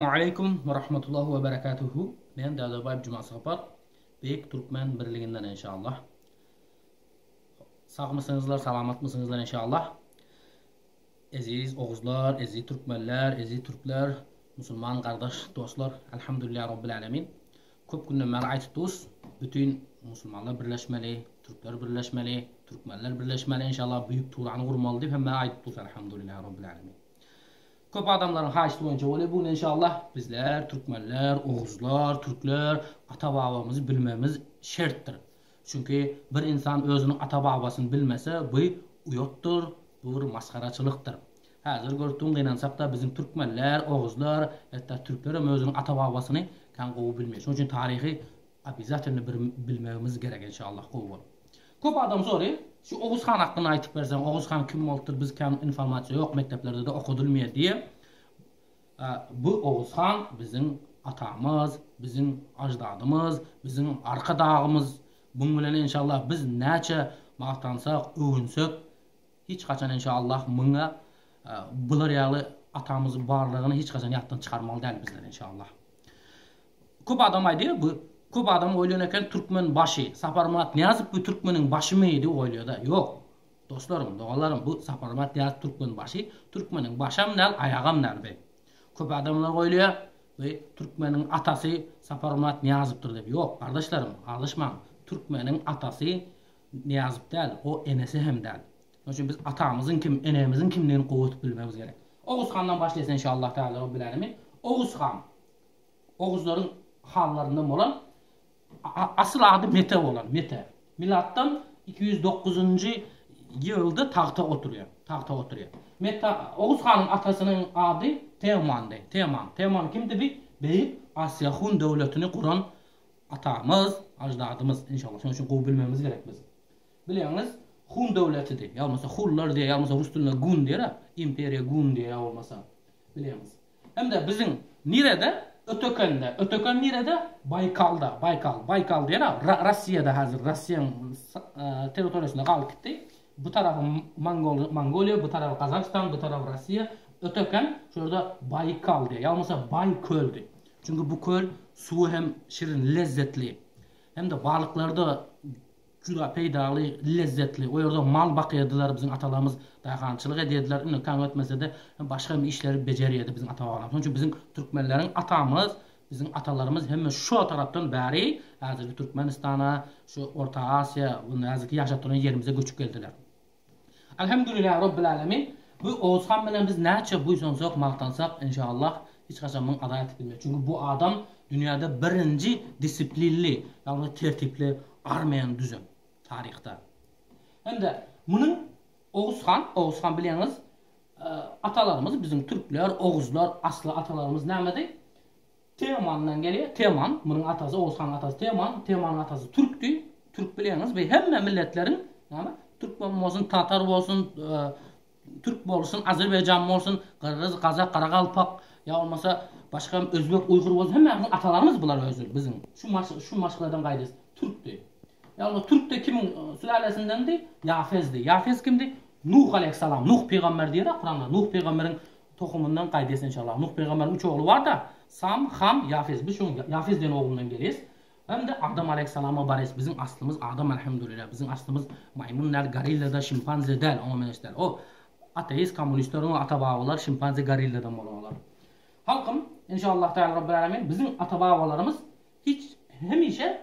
Waleýkum we rahmetullahi we berekatuhu men Dadabaýew Jumasapar beýik türkmen birliginden enşallah sagmysyňyzlar salamatmysyňyzlar enşallah eziz oguzlar eziz türkmenler eziz türkler musulman gardaş dostlar Alhamdulillah Rabbil Alemin köp günden bäri aýtyp durus bütin musulmanlar birleşmeli türkler birleşmeli türkmenler birleşmeli enşallah büýük turany gurmaly diýip hemme aýdyp durus Alhamdulillah Rabbil Alemin Köp adamlaryň haýyşty boýunça bolýa bu gün enşallah. Bizler türkmenler, oguzlar, türkler ata babamyzy bilmemiz şertdir. Çünki bir insan özüniň ata babasyny bilmese bu uýatdyr, bu bir masgaraçylykdyr. Häzir görtüň gynansakda biziň türkmenler, oguzlar, hetda türklerem özüniň ata babasyny kän gowy bilmeýär. Şonuň üçin taryhy Obezatilno bir bilmegimiz gerek enşallah gowy bol. Köp adam sory şu Oguz han hakynda aýtyp berseň Oguz han kim bolupdyr biz kän informasiýa ýok mekdeplerdede okadylmýa diýe bu Oguz han biziň atamyz biziň aždadymyz biziň arka dagymyz buň bilen enşallah biz näçe magtansak öwünsek hiç haçan enşallah muňa bular ýaly atamyz barlygyny hiç haçan ýatdan çykarmaly däl bizler enşallah. Köp adam aýdýar bu köp adam oýlan eken türkmen başy Saparmyrat Nyýazow bu türkmeniň başymy diýip oýlaýada ýok Dostlarym doganlarym bu Saparmyrat Nyýazow türkmen başy türkmeniň başam däl aýagam däl bi köp adamlar oýlaýar bi türkmeniň atasy Saparmyrat Nyýazowdyr diýip ýok gardaşlarym aldaşmaň türkmeniň atasy Nyýazow däl o enesi hem däl şonuň üçin biz atamyzyň kim enemiziň kimdigini gowy tutup bilmegimiz gerek Oguz handan başlaýas enşallah Taala Robbil Alemin Oguz han Oguzlaryň hanlaryndan bolan, asyl ady Mete bolan, Mete. Milatdan iki ýüz dokuzynjy ýylda tagta oturýar, tagta oturýar. Mete, Oguz hanyň atasynyň ady Teomandy, Teoman. Teoman kimdi? Bi beýik Asiýa hun döwletini guran atamyz, aždadymyz. Enşalla, şonuň üçin gowy bilmegimiz gerek biz. Bilýäňiz, hun döwletidi. Ýa bolmasa, hunlar diýýär, ýa bolmasa rus dilinde gun diýer-ä, imperiýa gun diýýär ýa bolmasa. Bilýäňiz. Indi biziň nirede? Ötekende. Öteken nirede? Baýkalda. Baýkal. Baýkal diýen-ä Rossiýada häzir. Rossiýanyň territoriýasynda galyp gitdi. Bu tarapy Mongoliýa, bu tarapy Gazagystan, bu tarapy Rossiýa. Öteken şu ýerde Baýkal diýýär. Ýa bolmasa Baý köldi. Çünki bu köl suwy hem şirin, lezzetli. Hem-de balyklary-da Juda peýdaly, lezzetli. O ýerde mal bakýardylar biziň atalarymyz, daýhançylyk edýärdiler. Indi taň ötmese-de, başga hem işleri bejerýärdi biziň ata-babalarym. Şonuň üçin biziň türkmenleriň atamyz, biziň atalarymyz hemme şo tarapdan bäri häzirki Türkmenistana, şu Orta Aziýa, bu näziki ýaşap duran ýerimize göçüp geldiler. Alhamdulillah Rabbil Alamin bu Oguzhan bilen biz näçe buýsansak magtansak inşallah hiç haçan muny ada etip bilmeris çünki bu adam dünýäde birinji disiplinli ýagny tertipli armiýany düzen taryhda hem-de munuň Oguzhan Oguzhan bilýäňiz atalarymyz biziň türkler oguzlar asly atalarymyz nämedi Teomandan gelýär, Teoman, munuň atasy Oguz hanyň atasy Teoman, Teomanyň atasy türkdi, türk bileňiz bu hemme milletleriň näme türkmen bolsun, tatar bolsun, türk bolsun, azerbaýjan bolsun, gyrgyz, gazak, garagalpak ýa bolmasa başga özbek, uýgur bolsun hemmämiziň atalarymyz bular özi biziň şu şu maşgaladan gaýdys türkdi. Ýa bolmasa türkde kimiň sülälesindendi? Ýafezdi. Ýafez kimdi? Nuh aleýhissalam, Nuh pygamber diýerä Kuranda, Nuh pygamberiň Tohumyndan gaýdýas enşallah. Nuh pygamberiň üç ogly barda, Sam, Ham, Ýafes. Biz şoň Ýafes diýen oglundan gelýäs. Hemde Adam aleýhissalama barýas. Biziň aslymyz Adam alhamdulillah. Biziň aslymyz maýmyn däl, gorilla da, şimpanze däl. Oňa meňzeş däl. O ateist kommunistleriň o ata babalary şimpanze gorilladan bolan olar. Halkym enşallah taala Rabbil Alamin biziň ata babalarymyz Hiç, hemişe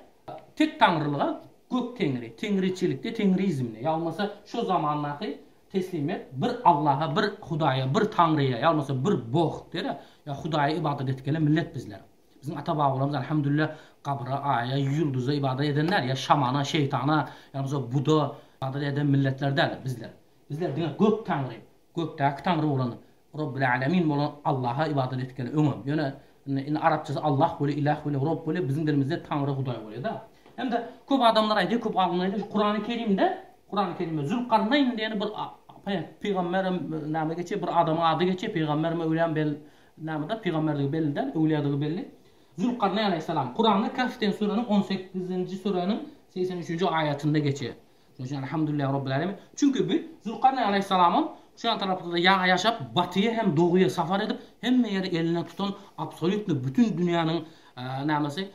tektaňrylyga, gök Teňri, teňriçilikde, teňrizmde, ýa bolmasa şo zamandaky teslimyýet bir Allaha, bir Hudaýa, bir Taňryýa, ýa bolmasa bir Bog dere, ýa Hudaýa ybadat edip gelen millet bizler. Biziň ata-babalarymyz alhamdulillah gabra, aýa, ýulduza ybadat eden däl, ýa şamana, şeýtana, ýa bolmasa Buda ybadat eden milletler däl bizler. Bizler diňe gök Taňry, Gökdäki Taňry bolan, Robbil Alemin bolan Allaha ybadat etgeli öňem. Ýöne indi arapçasy Allah bolýar, Ilah bolýar, Rob bolýar, biziň dilimizde Taňry, Hudaý bolýar-da. Hem-de köp adamlar aýdýar, köp alymlar aýdýar, şu Kurany Kerimde, Kurany Kerimde Zülkarnaýn diýen bir pygamberem näme geçýär, bir adamyň ady geçýär, pygambermi, öwlýämi bel näme-de, pygamberdigi belli däl, öwlýadygy belli. Zülkarnaýn aleýhissalam. Kuranda Kahf diýen süreniň on sekizinji süräniň segsen üçünji aýatynda geçýär. Şonuň üçin Elhamdülillah Rabbil Alemin. Çünki bu Zülkarneýn Aleýhissalamam şu ýan taraplarda ýaňy ýaşap, batyýa hem doguýa sapar edip, hemme ýeri eline tutan absolýutno bütin dünýäniň nämesi,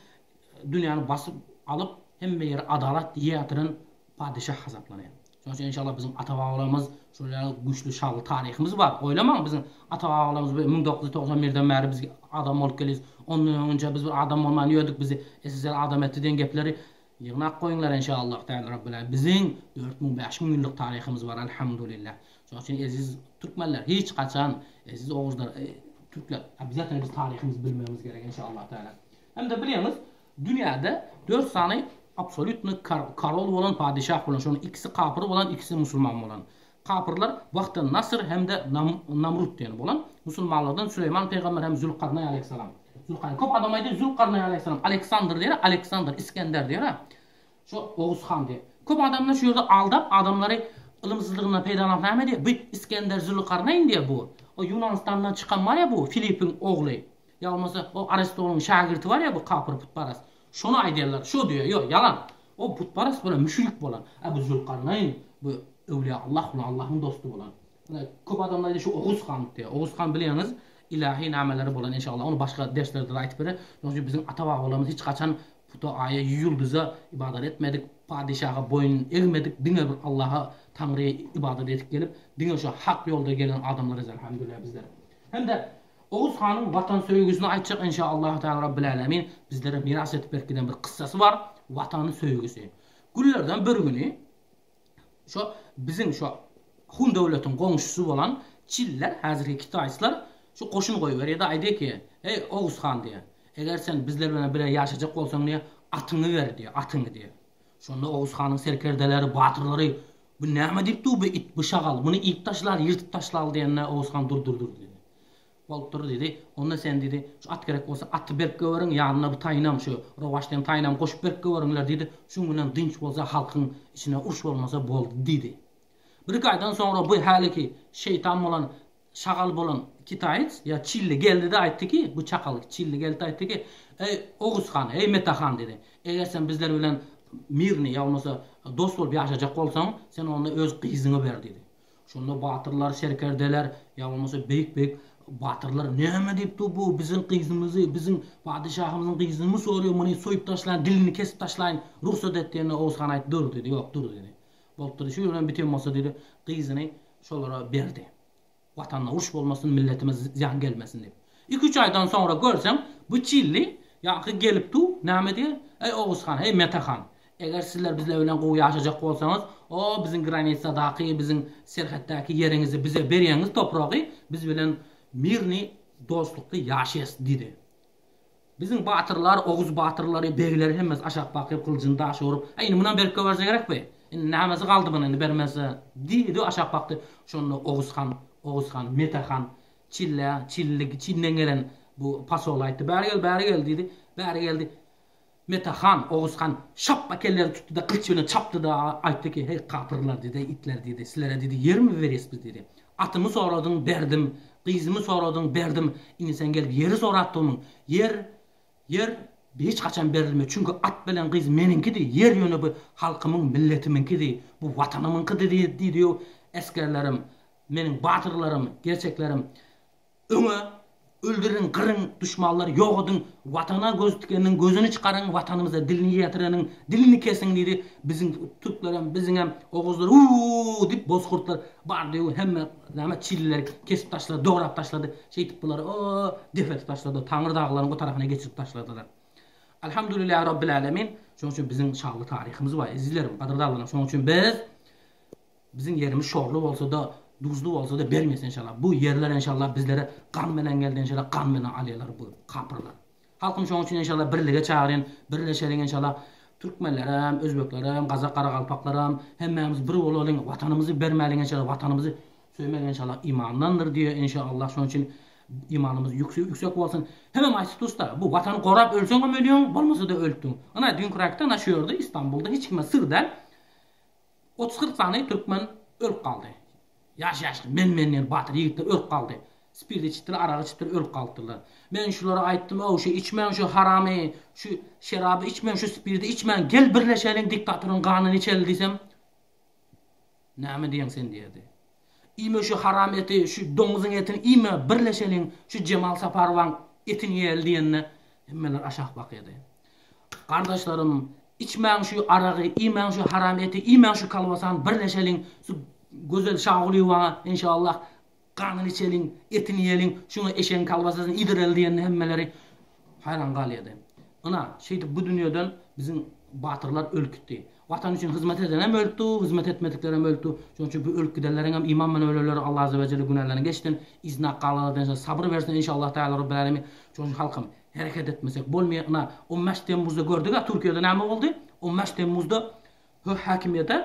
dünýäni basyp alyp, hemme ýeri adalat ýatiren padeşah hasaplanýar. Şonuň üçin enşallah biziň ata-babalarymyz şol ýaly güýçli şanly taryhymyz bar. Oýlamaň biziň ata-babalarymyz müň dokuz ýüz togsan birden bäri biz adam bolup gelýäs. Ondan öňünçä biz bir adam bolman ýördük, bizi SSR adam etdi diýen gepleri Ýygnap goýuňlar enşallah däl Rabbena biziň dört müň bäş müň ýyllyk taryhymyz bar Alhamdulillah şoň üçin eziz Türkmenler hiç haçan eziz Oguzlar Türkler obýazatna biz taryhymyzy bilmegimiz gerek enşallah däl hemde bilýäňiz dünýäde dört sany absolýutny karol bolan padyşah bolan şonuň ikisi kapyr bolan ikisi musulman bolan Kapyrlar wagty Nasyr hem-de Namrut diýen bolan musulmanlardan Süleýman pygamber hem Zülkarnaý aleýhissalam. Zülkarnaý. Köp adam aýdýar Zülkarnaý aleýhissalam Aleksandr diýer, Aleksandr, Isgender diýer. Şu Oguz han diýer. Köp adamlar şu ýerde aldap adamlary ylymsyzlygyndan peýdalanyp näme diýer, bu Isgender Zülkarnaýn diýer bu. O Ýunanistandan çykan bar ýa bu Filipiň ogly. Ýa bolmasa o Aristonyň şägirti bar ýa bu kapyr putparast. Şony aýdýarlar, şo diýýär, ýok, ýalan. O butparast bolan, müşrik bolan. A bu Zülkarnaýyn, bu öwliýa Allah bolan, Allahyň dosty bolan. Ine, köp adamlar aýdýar, şu Oguz han diýýär. Oguz han bilýäňiz, ilahi nameleri bolan, enşalla, ony başga derslerde-de aýdyp berer. Çünki biziň ata-babalarymyz hiç haçan puta, aýa, ýulduza ybadat etmedik, padyşaha boýun egmedik, diňe bir Allaha, Taňryýa ybadat edip gelip, diňe şu hak ýolda gelen adamlarys, elhamdülillah, bizler. Hem-de Oguz hanyň watan söýgüsini aýtjak enşa Allahu Teala Rabbil Alemin bizlere miras edip berip giden bir kyssasy bar watan söýgüsi. Günlerden bir güni şo biziň şo Hun döwletiň goňşusy bolan Çiller häzirki kitaýslar şu goşun goýberýärde aýdýar ki eý Oguz han diýýär eger sen bizler bilen bile ýaşajak bolsaň diýýär atyňy ber diýýär atyňy diýýär. Şonda Oguz hanyň serkerdeleri batyrlary Bu näme diýip dur bu it, bu şagal, muny iýip taşlaly, ýyrtyp taşlaly diýende, Oguz han dur, dur, dur diýdi. Bolupdyr diýdi. Onda sen diýdi, şu at gerek bolsa aty berip göberiň, ýanyna bu taýynam, şu rowaç diýen taýynam goşup berip göberiňler diýdi. Şuň bilen dynç bolsa, halkyň içine uruş bolmasa boldy diýdi. Birki aýdan soňra bu häliki şeýtan bolan Şagal bolan kitaýec ýa çilli geldi-de aýtdy ki, bu çakal çilli geldi-de aýtdy ki, Eý, Oguz han, eý, Mete han, diýdi, Eger sen bizler bilen mirni, ýa bolmasa dost bolup ýaşajak bolsaň, sen onda öz gyzyňy ber, diýdi. Şonda batyrlar, serkerdeler, ýa bolmasa beýik-beýik batyrlar, Näme diýip dur bu, biziň gyzymyzy, biziň padeşahymyzyň gyzyny sorýar, muny soýup taşlaýyn, dilini kesip taşlaýyn, rugsat et diýende Oguz han aýtdy, Dur, diýdi, ýok, dur, diýdi. Bolupdyr, şu gün bilen biten bolsa diýdi, gyzyny şolara berdi. Watanda uruş bolmasyn, milletime zyýan gelmesin diýip. Iki-üç aýdan soňra görseň, bu çilli ýaňky gelip dur, näme diýer, Eý, Oguz han, eý, Mete han, eger sizler bizler bilen gowy ýaşajak bolsaňyz, o, biziň granitsadaky, biziň serhetdäki ýeriňizi bize berýäňiz topragy, biz bilen mirni, dostlukly ýaşaýas diýdi. Biziň batyrlar oguz batyrlary, begleri hemmesi aşak bakyp, gylyjyny daşa urup, Äý, indi munam berip goýberse gerek bi? Indi nämesi galdy muny indi bermezse? diýdi, aşak bakdy. Şonda Oguz han, Oguz han, Mete han Çille, Çilli, Çinden gelen bu pasola aýtdy. Bäri gel, bäri gel diýdi. Bäri geldi. Meta han, Oguz han, şapba kelleri tutdy-da, gylyç bilen çapdy-da, aýtdy ki, Heý, kapyrlar, diýdi, itler, diýdi, sizlere, diýdi, ýermi berýäs biz, diýdi. Atymy soradyň, berdim. Gyzymy soradyň, berdim. Indi sen gelip ýeri sorapdygmyň? Ýer, ýer hiç haçan berilmez. Çünki at bilen gyz meniňkidi. Ýer ýöne bu halkymyň, milletimiňkidi. Bu watanymyňkydy, diýdi, diýdi. Esgerlerim, meniň batyrlarym, gerçeklerim, Öňe! Öldüriň, gyryň, duşmanlary ýok ediň, Watana göz tikeniň gözüni çykaryň, Watanymyza dilini ýetireniň dilini kesiň diýdi. Biziň türklerem, biziňem oguzlar Uu! diýip bozkurtlar bardy-u hemme näme çilleri kesip taşlady, dograp taşlady. Şeýdip bulary o depertip taşladylar, Taňry daglaryň o tarapyna geçirip taşladylar. Alhamdulillah Rabbil Alemin! Şonuň üçin biziň şanly taryhymyz bar, ezizlerim, gadyrdanlaryň. Şonuň üçin biz Biziň ýerimiz şorly bolsada duzly bolsada bermesin enşalla bu ýerler enşalla bizlere gan bilen geldi enşalla gan bilen alýalar bu kapyrlar halkym şoň üçin enşalla birlige çagyrýan birleşeliň enşalla türkmenlerem özbeklerem gazak garagalpaklaram hemmämiz bir bolalyň watanymyzy bermäliň enşalla watanymyzy söýmek enşalla imandandyr diýe enşalla şoň üçin imanymyz ýüksek ýüksek bolsun hemem aýt tusta bu watany gorap ölseňem ölýäň bolmasada ölüpdiň ynha düňki raýkda ynha şu ýerde istanbulda hiç kime syr däl Otuz-kyrk sany türkmen ölüp galdy. Ýaş-ýaşly, men-menler, batyr ýigitler ölüp galdy. Spirt içipdiler, arak içipdiler, ölüp galypdyrlar. Men şulara aýtdym-ow, şu içmäň şu haramy, şu şeraby içmäň, şu spirdi içmäň, gel birleşeliň, diktatoryň ganyny içeli diýsem, Näme diýeň sen diýerdi. Iýme şu haram eti şu doňuzyň etini iýme birleşeliň şu Jemal Saparowaň etini iýeli diýende hemmeler aşak bakydy. Gardaşlarym içmäň şu aragy iýmäň şu haram eti iýmäň şu kolbasany birleşeliň şu Gözel Şagulyýewaňa enşallah ganyny içeliň etini iýeliň şuňa eşegiň kolbasasyny iýdireli diýende hemmeleri Haýran galýardy. Ynha, şeýdip bu dünýeden biziň batyrlar ölüp gitdi. Watan üçin hyzmat edenem ölüpdi, hyzmat etmediklerem ölüpdi. Şonuň üçin bu ölüp gidenleriňem iman bilen öleler, Alla Azza we Jelle günälerini geçsin, yzyna galanlardan ençe sabyr bersin enşalla Taala Robbil Alemin. Şonuň üçin halkym, hereket etmesek bolmaýar. Ynha, on bäş temmuzda gördük-ä Türkiýede näme boldy. On bäş temmuzda Höh häkimiýete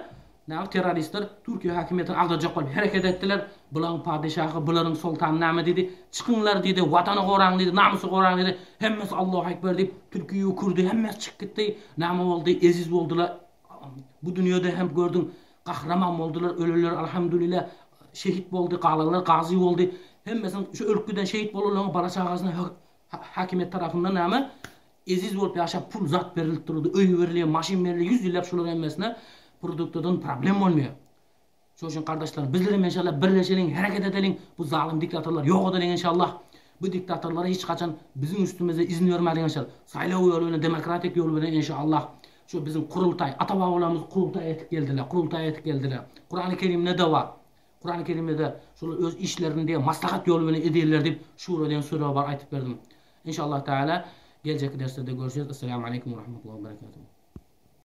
näme terroristler Türkiýe häkimiýetini agdarjak bolup hereket etdiler, bulaň padeşahy bularyň soltany näme diýdi, çykyňlar diýdi, watany goraň diýdi, namysy goraň diýdi, hemmesi Allahu ekber diýip türki we kürdi hemmesi çykyp gitdi, näme boldy eziz boldylar bu dünýede hem gördüň gahraman boldylar ölenler alhamdulila şehit boldy galanlar gazy boldy hemmesiniň şu ölüp giden şehit bolanlaryň bala çagasyna höh Hakimiýet tarapyndan näme eziz bolup ýaşap pul zat berilip duruldy, öý berilýär, maşyn berilýär, ýüz ýylap şular hemmesine produktadan problem bolmaýar. Şoň üçin gardaşlarym, bizlerem enşalla birleşeliň, hereket edeliň, bu zalym diktatorlary ýok edeliň enşalla. Bu diktatorlara hiç haçan biziň üstümizde izin bermäliň enşalla. Saýlaw ýoly bilen, demokratik ýol bilen enşalla. Şu biziň Kurultaý, ata-babalarymyz Kurultaý etip geldiler, Kurultaý etip geldiler. Kurany Kerimde-de bar. Kurany Kerimde-de şular öz işlerini diýen maslahat ýoly bilen edýärler diýip şura diýen süre bar aýtyp berdim. Inşallah Taala geljekki derslerde görüşeris. Essalamu Aleýkum we Rahmetullahi we Berekatuhu.